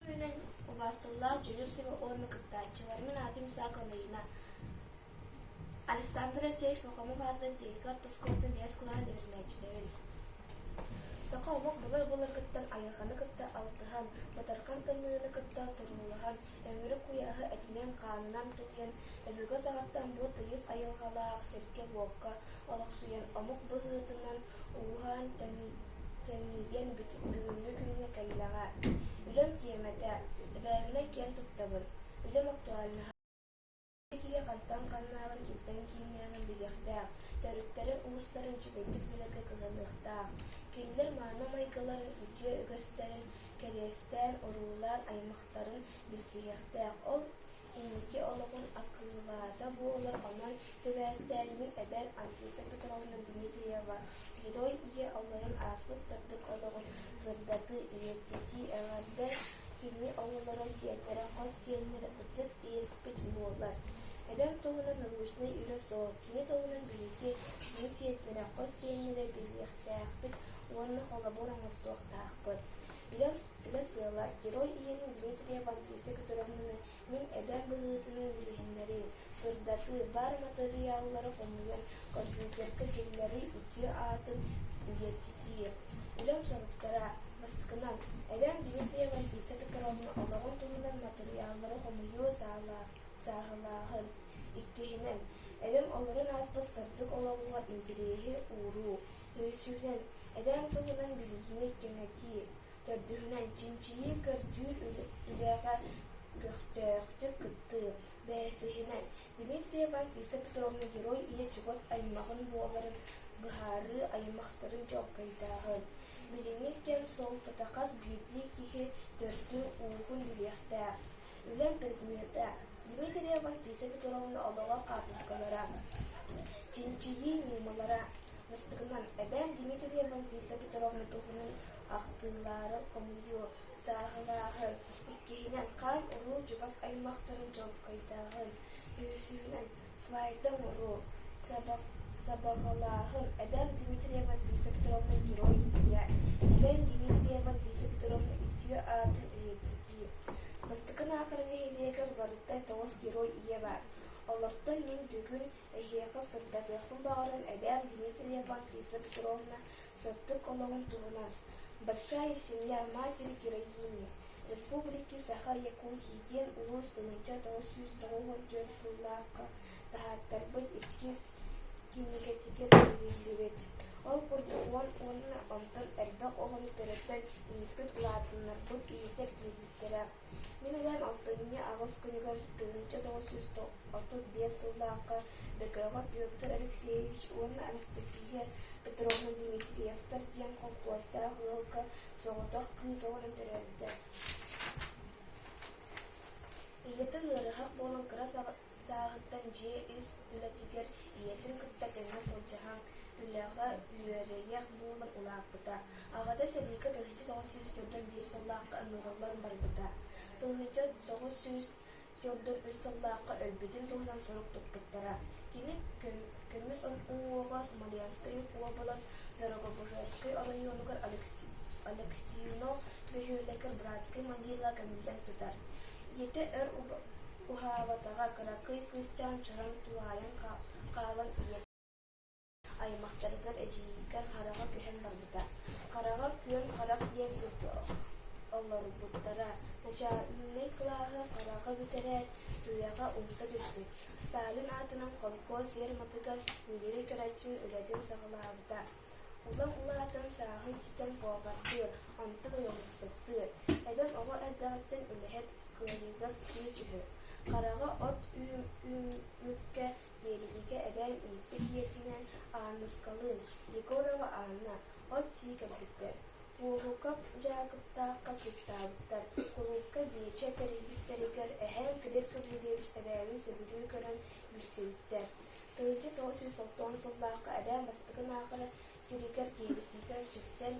күнүнэн убаастыллаах дьонур сиба уонна кыттааччыларымын аатым Исаак Анарина Александра Сеч Пахомов аатынан техника отпускоттан биэс кылаан үөрэнээччилэрин Саха омук былыр-былыргыттан айылҕаны кытта алтыһан, батархан тымныыны кытта туруулаһан, өҥүрү куйааһы этинэн-хаанынан тулуйан, өбүгэ саҕаттан бу тыйыс айылҕалаах сиргэ-буокка олохсуйан, омук быһыытынан Ууһан тэнийиэн бүгүҥҥү күҥҥэ кэллэҕэ, үлэм тиэмэтэ, эбээбинэй киэн туттабын, үлэм актуальнаһа икки киһи хантан ханнааҕын кимтэн кииннээҕин билиэхтээх, төрүттэрин-уустарын үчүгэйдик билэргэ кыһаныахтаах. Кинилэр мааны майгыларын, үтүө үгэстэрин кэриэстээн, уруулаан, аймахтарын билсиһиэхтээх. Ол Инники олоҕун акылаата буолар онон сибээстээнньиҥ эбэр Анфиса Петровна Дмитриева Герой ийэ оҕолорун ааспыт сырдык олоҕун сырдатыы, үйэтитии эҕэрдэ кини оҕолоро, сиэннэрэ, хос сиэннэрэ, ытык иэспит буолар. Эбэм туһунан научнай үлэ суох, кини туһунан билиити кини сиэннэрэ, хос сиэннэрэ билиэхтээхпит уонна холобур оҥостуохтаахпыт. Үлэм Үлэ сыала, Герой ийэтин Дмитрия Вамписа көтүрүхтүнэн мин эбээм быһыытынан билиһиннэрии, сырдатыы, баар матырыйааллары хомуйан компьютерга киллэрии үтүө аатын үйэтитии. Үлэм соруктара бастакынан, эбээм Дмитрия Вамписа Петровна олоҕун туһунан матырыйааллары хомуйуу саала- сааһылааһын. Иккиһинэн, эбэм олорон ааспыт сырдык олоҕугар интириэһи ууруу. Өйсүнэн, эбээм туһунан билиини кэҥэтии, төрдүһүнэн, чинчийии көрдүүр үлэҕэ көхтөөхтүк кыттыы, бэсиһинэн, Дмитриева Лиса Петровна герой ийэ чугас аймаҕын буоларын быһаарыы аймахтарын чуолкайдааҕын, билиҥҥи кэм суолтата хас биирдии киһи төрдүн-ууһун билиэхтээх. Үлэм предмета Дмитриева Лиса Петровна олоҕо хаартыскалара, чинчийии ньыымалара, Бастакынан, эбэм Дмитрия Малвиса Петровна туһунан ахтыылаары хомуйуу сааһылааһын, иккиһинэн, хаан-уруу чугас аймахтарын чолкойдааһын, үһүсүнэн, слайда оҥоруу, сабах сабаҕалааһын. Эбэм Дмитрия Малвиса Петровна герой ийэ, эбэм Дмитрия Малвиса Петровна үтүө аатын өйөбүллүү. Бастакы аахара нэһилиэгэр барыта тоҕус герой ийэ баар. Олортон мин бүгүн Эһиэхэ сырдатыахпын баҕаран эбээм Дмитрьева Лиза Петровна сыттык олоҕун туһунан Большая семья матери героини республики Саха Якутии диэн улуус тыһыынча тоҕус сүүс тоҕуһун түөрт сыллаахха таһааттарбыт иккис кинигэтигэр киириллибит. Ол курдук уон уонна онтон элбэх оҕону төрөтөн ииппит улаатыннарбыт иитэр диэбиттэрэ Мин эбээм алтынньы аҕыс күнүгэр тыһыынча тоҕус сүүс отут биэс сыллаахха Бөкөҕө Петр Алексеевич уонна Анастасия Петровна Дмитриевтар диэн холкуостаах ыалга соҕотох кыыс оҕонон төрөөбүтэ. Ийэтэ ыарыһах буолан кыра сааһыттан дьиэ ис үлэтигэр ийэтин кытта тэҥҥэ сылдьыһан, үлэҕэ үөрэниэх буолан улааппыта. Аҕата сэриигэ тыһыынча тоҕус сүүс төрдүн биир сыллаахха ыҥырыллан барбыта. Тыһыынча тоҕус сүүс төрдүн үс сыллаахха өлбүтүн туһунан сурук туппуттара. Кини көмүс уҥуоҕа Смоленскай уобалас Дорогобужайскай оройуонугар Алексино бөһүөлэгэ братскай могила көмүллэн сытар. Ийэтэ өр Уһаабатаҕа, кыракый кыысчаан чараҥ туһаайан хаалан ийэ аймахтарыгар эдьиийгэ хараҕа көһөн барбыта. Хараҕа күөн харах диэн сиргэ олорбуттара. Начаальнай кылааһы хараҕа бүтэрээт, туйаҕа умса түспүт. Сталин аатынан холкуос ферматыгар Нигерий Карачин үлэтин саҕалаабыта. Улам улаатан, сааһын ситэн куобардыыр, антах ыалдьыксыттыыр. Эбэм оҕо эрдэҕиттэн үлэһит, кыайыылас кыыс үһү. Хараҕа от үүммүккэ тиэрийиигэ эбээн ииппит ийэтинээн Аанныскалыын, Егорова Анна, от-сии кэлбиттэр. Уоһукап Дьаакыптаахха кыыстаабыттар. Кулуупка Биэчэ тэрийбиттэригэр эһээн Кадет Гаврильевич эбээнин сөбүлүү көрөн билсибиттэр. Тыһыынча тоҕус сүүс оттоон сыллаахха элээн бастакын аахара сиригэр тиэрдиитигэр сүттэн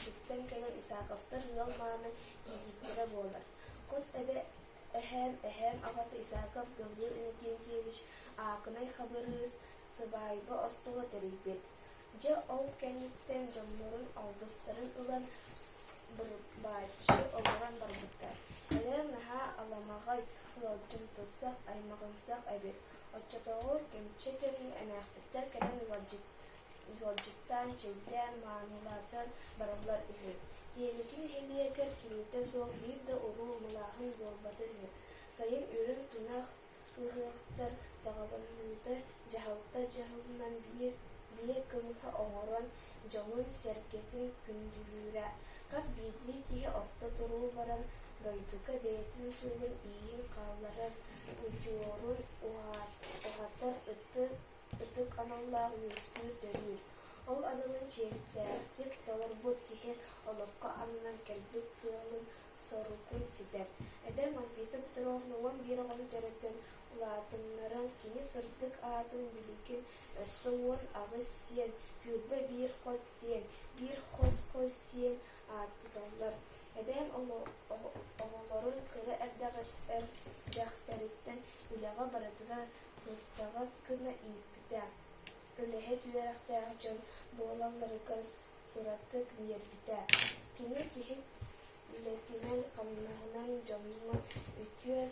сүттэн кэлэн Исааковтар ыал мааны тиэхиттэрэ буолар. Хос эбэ эһээн эһээн аҕата Исааков Гавриил Иннокентьевич аакынай хабырыыс сыбаайба остуола тэрийбит. Дьэ ол кэнниттэн дьоннорун алгыстарын ылан бырбааччы олорон барбыттар. Элээн наһаа аламаҕай, ыалдьымтысах, аймаҕынсах эбит. Оччотооҕу кэмчи кэми эмээхситтэр кэлэн ыалдьыттаан, чэйдээн, маанылаатан бараллар үһү. Тиэникин нэһилиэгэр киһитэ суох биир да уруу мылааһын буолбата үһү. Сайын үрүҥ тунах ыһыахтар саҕаланыыта дьаһалта дьаһалынан биир кымыһы оҥорон дьоҥун-сэргэтин күндүлүүрэ. Хас биирдии киһи орто туруу баран, дойдуга бэйэтин суолун ииин хаалларар, удьуорун уһатар ытык аналлаах үөскүүр төрүүр. Ол аналын чиэстээхтик толорбут киһи олоххо аннынан кэлбит сыалын-соругун ситэр. Эдэр Анфиса Петровна уон биир оҕону төрөтөн улаатыннаран, кини сырдык аатын билигин Өссө уон аҕыс сиэн, күөлбэ биир хос сиэн, биир хос-хос сиэн ааттыыллар. Эбэм оҕолорун кыра эрдэхтэриттэн үлэҕэ барытыгар сыстаҕас гына ииппитэ. Үлэһит үөрэхтээх дьон буолалларыгар сыратык биэрбитэ. Кини киһи үлэтинэн-хамнаһынан дьоҥҥо үтүө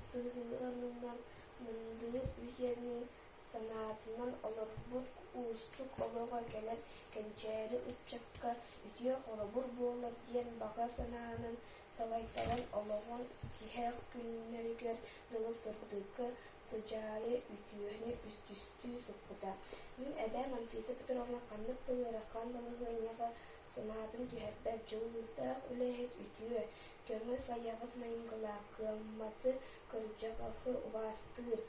сыһыанынан мындыр үһүөнүн санаатынан олорбут уустук олоҕо кэлэн кэнчээри ыччакка үтүө холобур буолар диэн баҕа санаанан салайтаран олоҕун тиһэх күннэригэр дылы сырдыка сыдьаайа үтүөнү үстүстүү сыппыта мин эбээм анфиса петровна ханнык да ыарахан балаһыанньаҕа санаатын түһэрбэт дьулуурдаах үлэһит үтүө көҥүс айаҕас майыҥкалаах кыамматы кырдьаҕаһы убаастыыр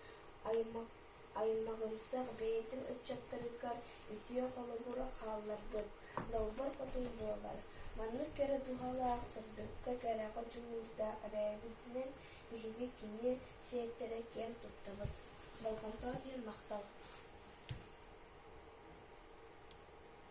Аймаҕымсах бэйэтин ыччаттарыгар үтүө холобур хаалларбыт долбор хотун буолар. Маннык кэрэ туһалаах сырдыкка кэрэҕэ дьулуурда эбээбитинэн биһиги кини сиэттэрэ киэн туттабыт. Болҕомто иһин махтал